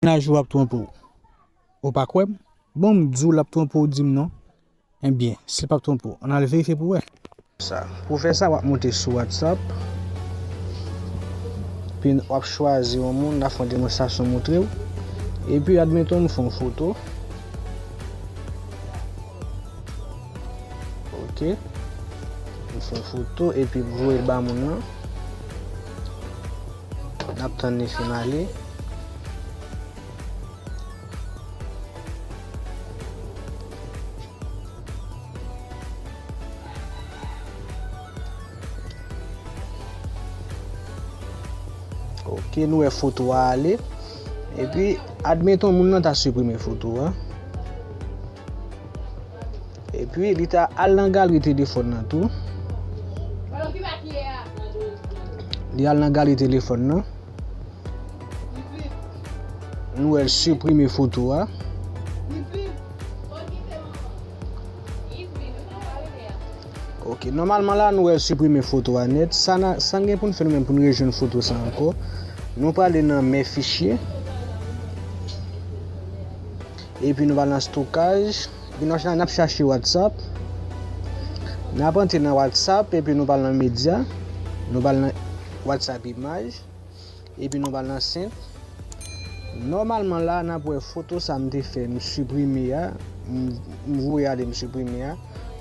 Menaj ou ap twonpe w ou pa kwè m bon m di w l ap twonpe w di m non enben si l pap twonpe w an n al verifye pou wè. Pou w fè sa w ap monte sou whatsapp epi w ap chwazi yon moun la fè yon demonstrasyon montre w epi admeton m fè yon foto ok m fè yon foto epi m voye l ba moun nan. Nap tann li fin ale. Ok nou wè foto a ale. E pi admeton moun nan ta siprime foto a. Epi li ta al nan galri telefòn nan tou. Li al nan galri telefòn nan. Nou el suprime foto a. Ok, normalman la nou el suprime foto a net. San gen pou nou fèl men pou nou rejoun foto sa anko. Nou pale nan men fichye. Epi nou va nan stokaj. Epi nan la nap chache whatsapp. Nap antre nan whatsapp epi nou pral nan medya. Nou pral nan whatsapp imaj. Epi nou pral nan sent. Nòmalman la nap wè foto sa mte fè m siprime a. M voye ale m siprime a.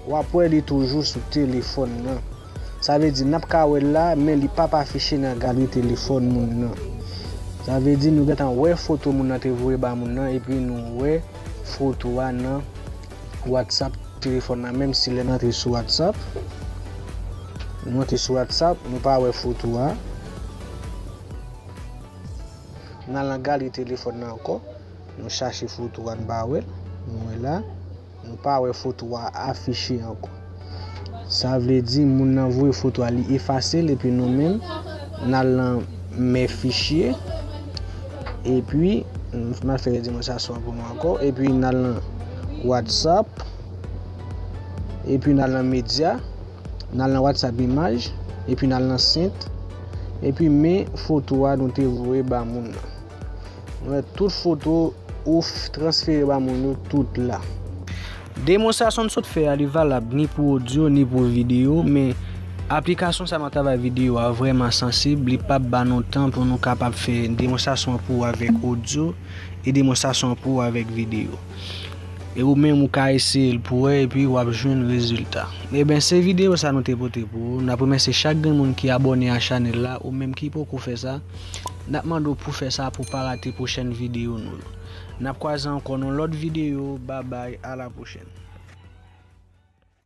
Wap wè li toujou sou telefòn nan. Sa vle di, n ap ka wè l la, men li p ap afiche nan galri telefòn moun nan. Sa vle di, nou gentan wè foto moun nan te voye ba moun nan epi nou wè foto a nan Whatsapp telefòn nan, menm si lè n antre sou Whatsapp, nou antre sou Whatsapp, nou pa wè foto a. N al nan galri telefòn nan ankò, nou chache foto a, nou pa wè l, nou wè la. Nou pa wè foto a afiche ankò. Sa vle di moun nan voye foto a li efase l epi nou menm n al nan mè fichye epi m ap fè demonstrasyon an pou nou ankò epi n al nan whatsapp epi n al nan medya n al nan whatsapp imaj epi n al nan sent epi men foto a nou te voye ba moun nan. Mwen tout foto ou transfere ba moun yo tout la. Demonstrasyon m sot fè a li valab ni pou odyo ni pou videyo men aplikasyon sa nan travay videyo a vrèman sansib li pap ba nou tan pou nou kapab fè demonstrasyon an pou ou avèk odyo e demonstrasyon an pou ou avèk videyo e ou menm ou ka eseye l pou wè epi wap jwenn rezilta eben se videyo sa nou te pote pou ou nap remèsye chak grenn moun ki abòne a chanèl la ou menm ki poko fè sa. Nap mande w pou fè sa pou pa rate pwochèn videyo nou yo. Nap kwaze ankò nan lòt videyo, babay, a la pwochèn.